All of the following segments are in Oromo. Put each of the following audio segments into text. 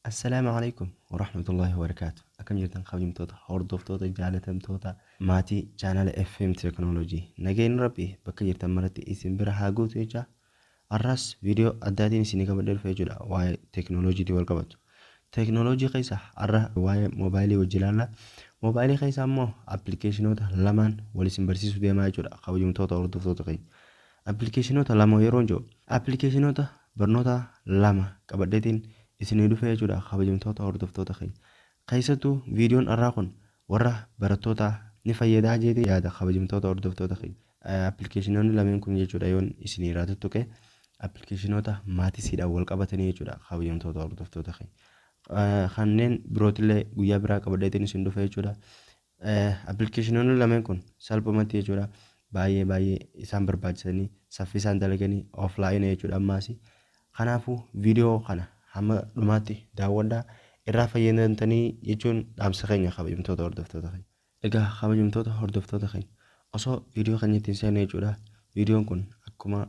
Assalaamu Aleykum Warahmatullahi Wabarakaatu Akkam jirtan kabajamtoota hordoftoota jaalatamtoota maatii chaanala FM Technology nageenyi rabbi bakka jirtan maratti isin bira haa guutu jechaa arraas viidiyoo addaatiin isinii qabadhee dhufe jechuudha waa'ee teknooloojiitiin wal qabatu teknooloojii keessa arra waa'ee moobaayilii wajji ilaalla moobaayilii keessa ammoo appilikeeshinoota lamaan wal isin barsiisuu deemaa jechuudha kabajamtoota hordoftoota keenya Appilikeeshinoota lama yeroon jedhu appilikeeshinoota barnoota lama qabadheetiin isinii dhufee jechuudha kabajamtoota hordoftoota keenya. Keessattuu viidiyoon har'aa kun warra barattootaa ni fayyadaa jeetee yaada kabajamtoota hordoftoota keenya. Appilikeeshinoonni lameen kun jechuudha yoon isinii irraa tuttuqe appilikeeshinoota maatisiidhaan wal qabatanii jechuudha kabajamtoota hordoftoota keenya. Kanneen birootillee guyyaa biraa qabadheetiin isin dhufe jechuudha. Appilikeeshinoonni lameen kun salphumatti jechuudha baay'ee baay'ee isaan barbaachisanii saffisaan dalaganii offline jechuudha ammaas. Kanaafuu viidiyoo kana hamma dhumaatti daawwadhaa irraa fayyadamtanii jechuun dhaamsa keenya kabajamtoota hordoftoota keenya. Egaa kabajamtoota hordoftoota keenya osoo viidiyoo keenya ittiin seenne jechuudha viidiyoon kun akkuma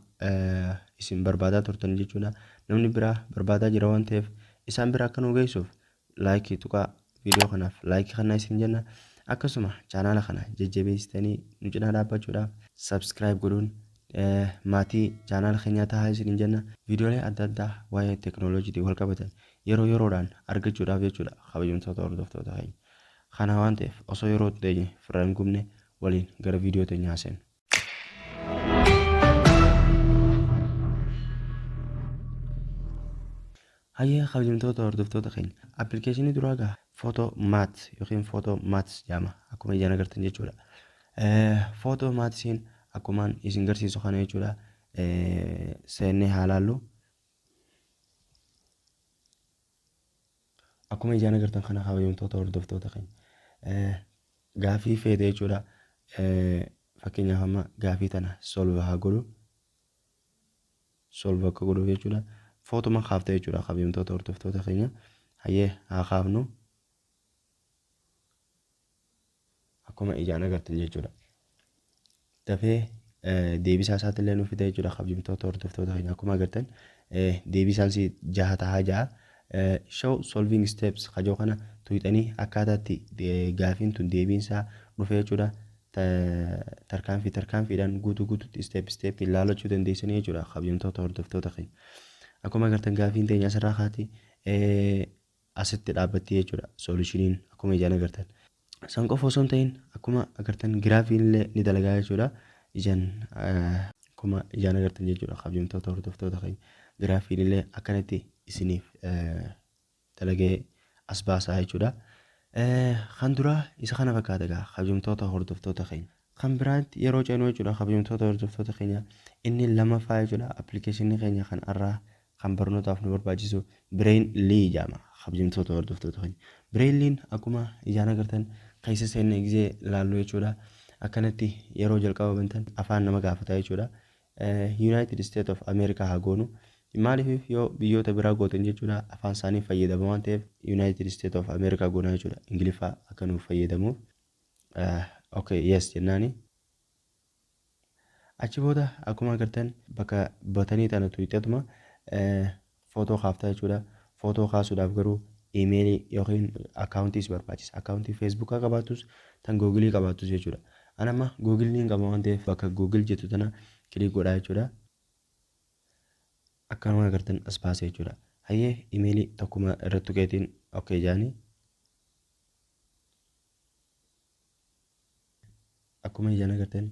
isin barbaadaa turtan jechuudha namni biraa barbaadaa jira waan ta'eef isaan bira akka nu geessuuf Laayikii tuqaa viidiyoo kanaaf laayikii kannaa isin jenna. Akkasuma chaanaala kana jajjabeessitanii nu cinaa dhaabbachuudhaaf subscribe godhuun maatii chaanaala keenyaa tahaa isin jenna. Viidiyoolee adda addaa waa'ee teknooloojiitiin wal qabatan yeroo yeroodhaan argachuudhaaf jechuudha kabajamtoota hordoftoota keenya. Kana waan ta'eef osoo yeroo hin teenye firra hin gubne waliin gara viidiyoo teenyaa seenna. Hayyee kabajamtoota hordoftoota keenya appilikeeshinii duraa gaa footoo maats yookiin footoo maats jedhama akkuma ijaan agartan jechuudha. Footoo maatsiin akkumaan isin garsiisu kana jechuudha seennee haa laallu. Akkuma ijaan agartan kana kabajamtoota hordoftoota keenya gaafii feete jechuudha. Fakkeenyaaf amma gaafii tana solve haa godhu. Solve akka godhuuf jechuudha. Footuma kaafte jechuudha kabajamtoota hordoftoota keenya. Hayyee haa kaafnu. akkuma ijaan agartan jechuudha. Dafee deebisaa isaatti illee nu fida jechuudha kabajamtoota hordoftoota keenya akkuma agartan deebisaan si jaha tahaa jaha. Show solving steps kajoo kana tuyxanii akkaataatti gaafiin tun deebiinsaa dhufee jechuudha. Tarkaanfii tarkaanfiidhaan guutuu guututti isteep isteeppiin laalachuu dandeessanii jechuudha kabajamtoota hordoftoota keenya. Akkuma agartan gaafiin teenya asirraa kaati. asitti dhaabbattii jechuudha solushiniin akkuma ijaan agartan. San qofa osoo hin ta'in akkuma agartan giraafiin illee ni dalagaa jechuudha ijaan akkuma ijaan agartan jechuudha kabjamtoota hordoftoota keenya giraafiin illee akkanatti isiniif dalagee as baasaa jechuudha. Kan duraa isa kana fakkaata egaa kabjamtoota hordoftoota keenya. Kan biraatti yeroo ceenuu jechuudha kabjamtoota hordoftoota keenya inni lamaffaa jechuudha appilikeeshinii keenya kan arraa kan barnootaaf nu barbaachisu Bireen Lii jedhama. Kabajamtoota hordoftoota keenya. Bireen Liin akkuma ijaan agartan keessa seenne gizee laallu jechuudha. Akkanatti yeroo jalqaba bantan afaan nama gaafata jechuudha. Yuunaayitid Isteet of Ameerikaa haa goonu. Maaliif yoo biyyoota biraa gootan jechuudha afaan isaanii fayyadama waan ta'eef Yuunaayitid Isteet of Ameerikaa goona jechuudha. Ingiliffaa akka nuuf fayyadamuuf. Okay, yes jennaani. Achi booda akkuma agartan bakka batanii tana tuqxatuma footoo kaaftaa jechuudha. Footoo kaasuudhaaf garuu iimeelii yookiin akkaawuntii si barbaachisa. Akkaawuntii feesbuukaa qabaattus tan googilii qabaattus jechuudha. An amma googil niin qaba waan ta'eef bakka googil jettu tana kiliik godhaa jechuudha. Akkanuma agartan as baasee jechuudha. Hayyee iimeelii tokkuma irratti tuqeetiin ok jaanii. akkuma ijaan agartan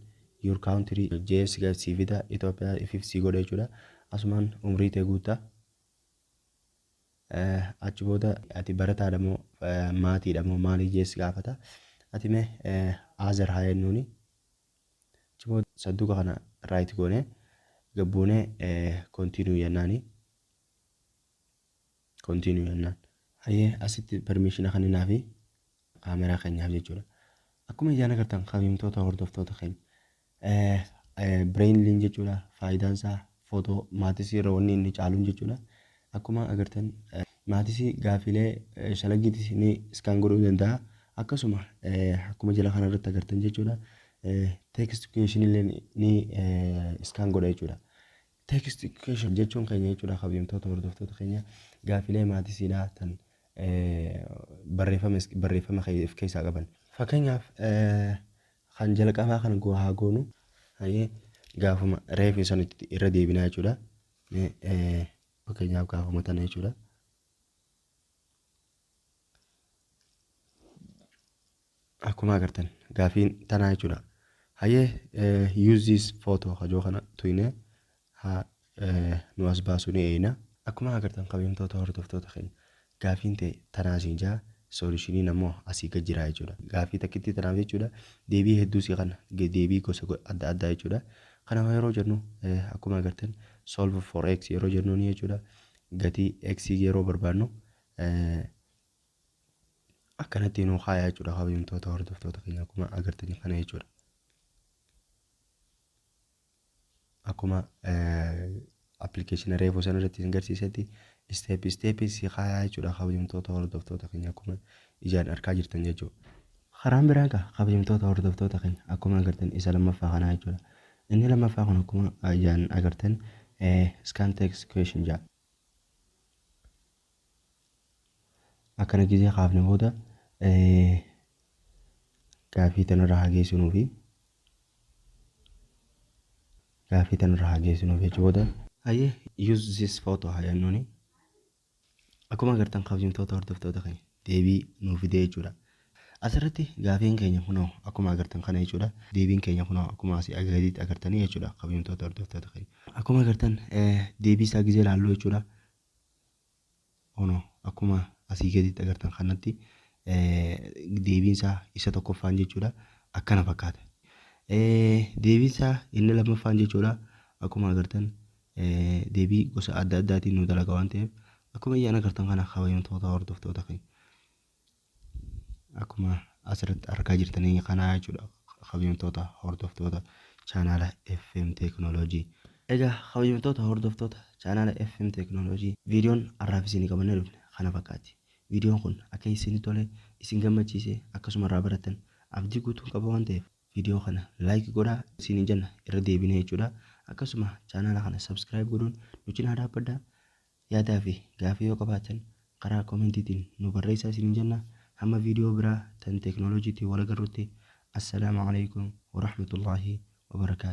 your country js ga sii fida Ethiopia ifif sii godha jechuudha asumaan umrii tee guutta achi booda ati barataadha moo maatiidha moo maalii js gaafata ati mee aazar haa jennuuni achi booda sanduuqa kana raayit goone gabbuune kontiinuu jennaani Continue jennaan. Hayyee asitti permission kenninaafi kaameraa keenyaaf jechuudha. Akkuma ijaan agartan kabajamtoota hordoftoota keenya. Brainlin jechuudha faayidaan isaa footoo maatisii irra wanni inni caaluun jechuudha. Akkuma agartan maatisii gaafiilee shalaggiitis ni iskaan godhuu danda'a. Akkasuma akkuma jala kana irratti agartan jechuudha. Text question illee ni iskaan godha jechuudha. Text Education jechuun keenya jechuudha kabajamtoota hordoftoota keenya gaafilee maatisiidhaa tan barreeffama barreeffama of keessaa qaban. Fakkeenyaaf kan jalqabaa kan goo haa goonu hayyee gaafuma reefu san irra deebinaa jechuudha. Fakkeenyaaf gaafuma tana jechuudha. akkuma agartan gaafiin tanaa jechuudha hayyee eh, use this photo hajoo kana tuyne ha eh, nu as baasu ni eeyna akkuma agartan kabajamtoota hordoftoota keenya gaafiin ta'e tanaa siin jaa soolishiniin ammoo asii gad jiraa jechuudha gaafii takkitti tanaaf jechuudha deebii hedduu sii kana ge- deebii gosa go- adda addaa jechuudha kana yeroo jennu eh, akkuma agartan solve for x yeroo jennuun jechuudha gatii x yeroo barbaannu akkanatti nuu kaayaa jechuudha kabajamtoota hordoftoota keenya akkuma agartan kana jechuudha. Akkuma appilikeeshina reefuu sana irratti isin garsiisetti isteep isteep si kaayaa jechuudha kabajamtoota hordoftoota keenya akkuma ijaan argaa jirtan jechuudha. Karaan biraan kaa kabajamtoota hordoftoota keenya akkuma agartan isa lammaffaa kanaa jechuudha. Inni lammaffaa kun akkuma ijaan agartan scan text question jedha. Akkana gizee kaafne booda gaafii tanarra haa geessinuufi. Gaafii tanarra haa geessinuuf jecha booda. Hayyee use this photo haa jennuni. Akkuma agartan kabajamtoota hordoftoota keenya. deebii nuu fidee jechuudha. Asirratti gaafiin keenya kunoo akkuma agartan kana jechuudha. Deebiin keenya kunoo akkuma asii gadiitti agartanii jechuudha kabajamtoota hordoftoota keenya. Akkuma agartan deebii isaa gizee laalluu jechuudha. Kunoo akkuma asii gadiitti agartan kanatti deebiin isaa isa tokkoffaan jechuudha akkana fakkaata. Deebiin isaa inni lammaffaan jechuudha akkuma agartan deebii gosa adda addaatiin nu dalaga waan ta'eef akkuma iyyaan agartan kana kabajamtoota hordoftoota keenya. Akkuma asirratti argaa jirtanii kanaa jechuudha kabajamtoota hordoftoota chaanaala FM Teekinooloojii. Egaa kabajamtoota hordoftoota chaanaala FM Teekinooloojii viidiyoon har'aaf isinii qabannee dhufne kana fakkaatti. Viidiyoon kun akka isinii tole isin gammachiise akkasuma irraa barattan abdii guutuun qaba waan ta'eef video kana like godha isinin jenna irra deebine jechuudha akkasuma chaanaala kana subscribe godhuun nu cinaa dhaabbadha yaadaa fi gaafii yoo qabaatan karaa komentiitiin nu barreessaa isinin jenna hamma video biraa tan teknolojiitiin wal agarrutti assalaamu alaikum warahmatullaahi wabarakaatu